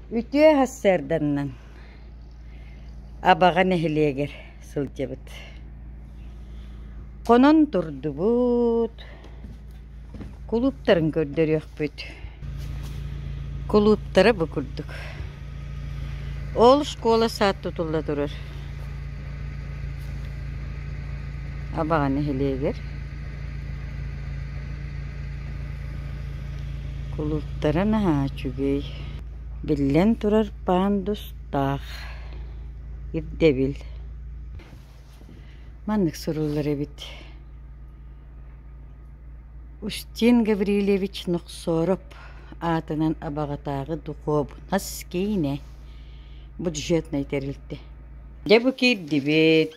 Үтүө сарсыарданнан Абаҕа нэһилиэгэр сылдьабыт. Хонон турдубут, кулууптарын көрдөрүөхпүт. Кулууптара бу курдук. Ол школа саат тутулла турар. Абаҕа нэһилиэгэр Кулууптара наһаа үчүгэй, биллэн турар пандус таах, ирдэбил. Маннык суруллар эбит: Устин Гаврильевич Нохсоров аатынан Абаҕатааҕы духуобунас киинэ бюджетнай тэрилтэ. Дьэ, бу киирдибит.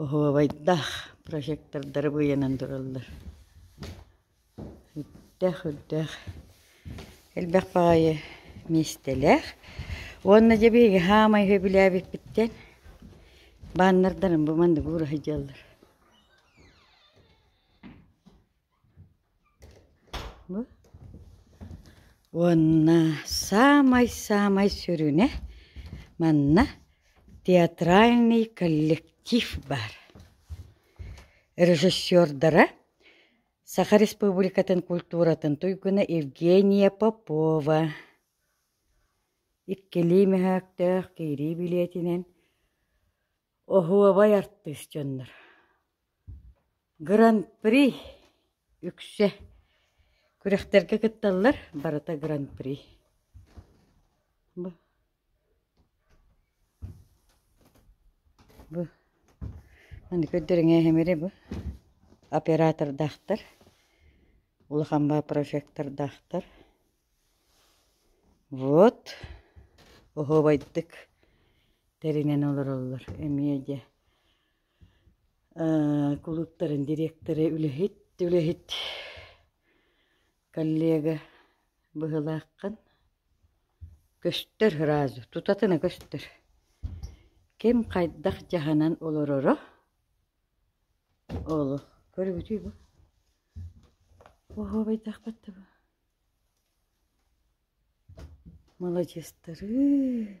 Оһуобайдаах прожектордары быйанан тураллар. Үрдээх, үрдээх. Элбэх баҕайы миэстэлээх. Уонна дьэ биһиги хаамай сөбүлээбиппиттэн бааннардарым бу манныгы уура сылдьаллар. Уонна саамай-саамай сүрүнэ манна театральный коллектив баар. Режиссердара Саха Республикатын культуратын туйгуна Евгения Попова. Иккилии мөһөөктөөх киирии билиэтинэн оһуобай артыыс дьоннор. Гран-при үксэ күрэхтэргэ кытталлар, барыта гран-при бу бу аны көрдөрүҥээһимири бу оператордаахтар, улахан баа прожектордаахтар. Вот оһуобайдык тэринэн олороллор эмиэ дьэ кулууптарын дириэктэрэ үлэһит, үлэһит коллега быһылааххын. Көстөр сразу, тутатына көстөр. Ким хайдах дьаһанан олороро олу көрүбүтүй бу? Оһуобайдаахпат да бу. Маладьыастары.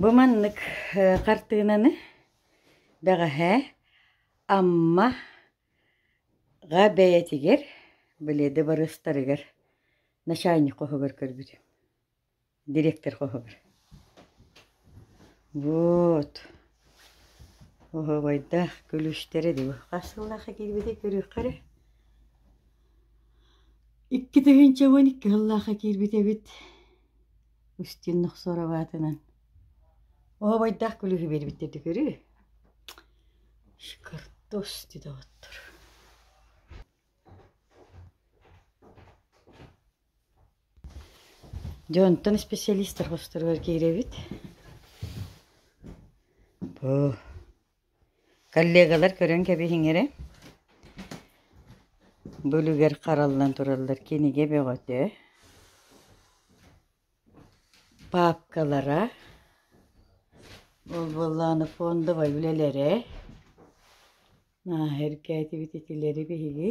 Бу маннык хартыынаны бэҕэһээ Амма га бэйэтигэр, билиэдэ барыстарыгар начальник хоһугар көрбүтүм дириэктэр хоһугар вот хоһуобайдаах күлүстэрэ дуу хас сыллаахха киирбитэ көрүөххэ эрэ икки тыһыынча уон икки сыллаахха киирбит эбит Устин Нохсоров аатынан оһобайдаах күлүһү биэрбиттэрди көрү шкартос деді оттор Дьэ онтон специалистар хосторугар киирэбит. Оо, коллегалар көрөн кэбиһиҥ эрэ. Бу үлүгэр хараллан тураллар кинигэ бөҕөтө. Паапкалара, ол буоллааны фондовай үлэлэрэ. Нааһа эргээтибит итилэри биһиги.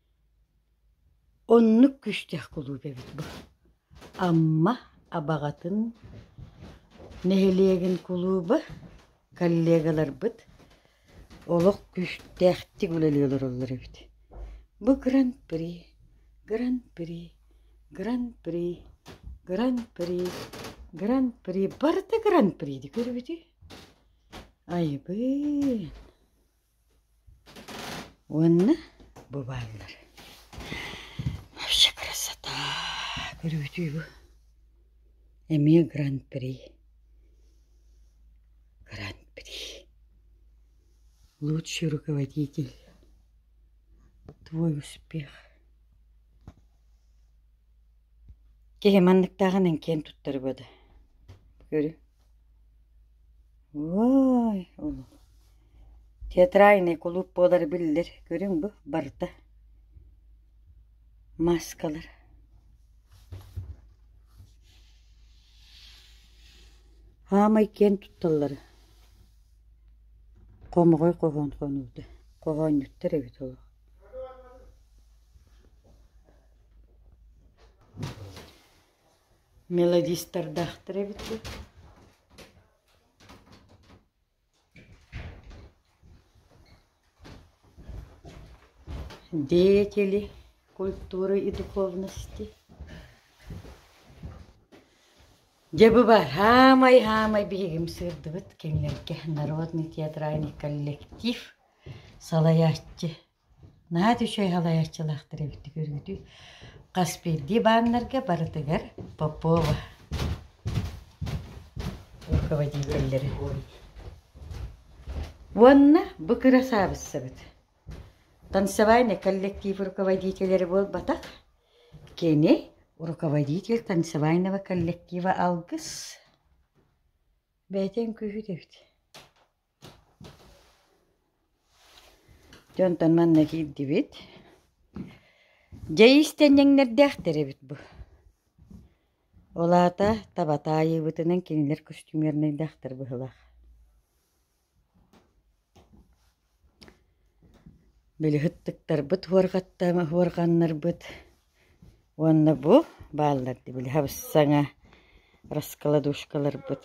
Оннук күүстээх кулууп эбит бу Амма Абаҕатын нэһилиэгин кулууба коллегаларбыт олох күүстээхтик үлэлии олороллор эбит. Бу гран-при, гран-при, гран-при, гран-при, гран-при, барыта гран-приди көрүбүтүй? Айбыын! Уонна бу бааллар. Вообще красота! Көрүөтүй бу. Эмиэ гран-при. Гран-при. Лучший руководитель. Твой успех. Киһи манныктааҕынан киэн туттар бу да. Көрү. Вай, улуу театральный кулууп буолара биллэр, көрүҥ бу, барыта. Маскалар. Аамай киэн тутталлара. Хомоҕой хоһоон хонууда. Хоһоонньуттар эбит олох. мелодистардаахтар эбит дуо деятели культуры и духовности дьэ бу баар хаамай хаамай биһигим сыырдыбыт кинилэргэ народный театральный коллектив салайааччы Наһаа үчүгэй салайааччылаахтар эбиттик өрүтүй. Хас биирдии бааннарга барытыгар Попова руководителлэрэ уонна бу кырасаабыссабыт танцевальный коллектив руководителэрэ буолбатах кини руководитель танцевального коллектива алгыс бэйэтин күүһүт эбит Дьонтон манна киирдибит. Дьэ иистэнньэҥнэрдээхтэр эбит бу. Ол аата таба таайыыбытынан кинилэр костюмернайдаахтар быһылаах. Били ыттыктарбыт уорганнарбыт уонна бу бааллар дии били хабысаҥа раскладушкаларбыт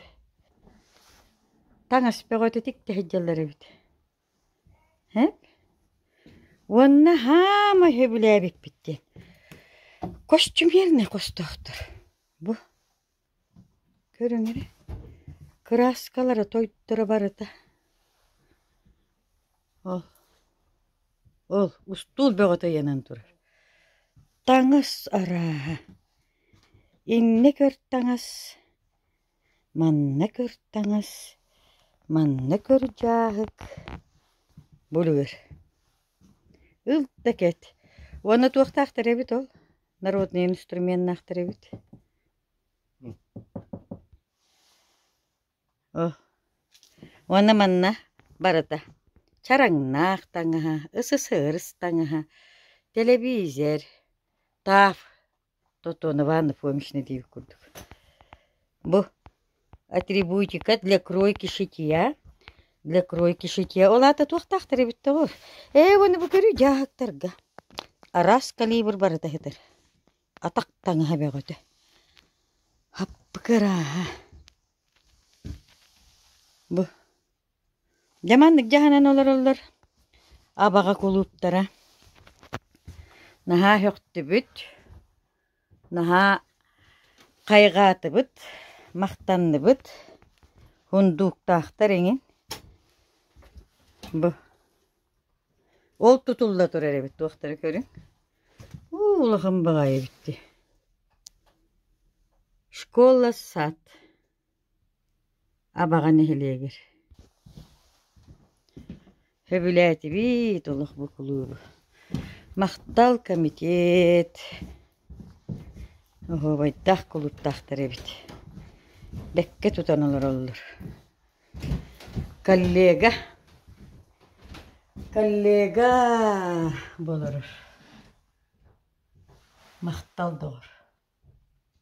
таҥас бөҕөтүтүк тэһдьэллэр эбит уонна хаама сөбүлээбиппит диэн костюмернай хостоохтор бу көрүҥ эрэ кырааскалара тойотторо барыта ол ол устуул бөҕөтө ыйанан турар таҥас арааһа иннэ көр таҥас Манна көр таҥас, манна көр дьааһык, булуур. Ыл да кэт. Уонна туохтаахтар эбит ол? Народнай инструменнаахтар эбит. О. Уонна манна барыта. Чараҥнаах таҥаһа, ыс-ыс ырыс таҥаһа, тэлэбиизэр, таав. Тотонова Анафомична диэбит курдук бу атрибутика для кройки шитья для кройки шитья ол аата туохтаахтар эбит тоҕо ээ уону бу көрү дьааһыктарга араас калибр барыта ыһытар атах таҥаһа бөҕөтө аппыкырааһа бу Дьэ маннык дьаһанан олороллор Абаҕа кулууптара наһаа һөхтүбүт, наһаа хайҕаатыбыт, махтанныбыт, һундууктаахтар эҥин. Бу ол тутулла турар эбит туохтара көрүҥ. Уу улахан баҕайы эбит дии. Школа, сад. Абаҕа нэһилиэгэр Сөбүлээтибит олох бу кулуубу Махтал комитет Оһуобайдаах кулууптаахтар эбит Бэккэ тутан олороллор Коллега Коллега Болорор Махтал доҕор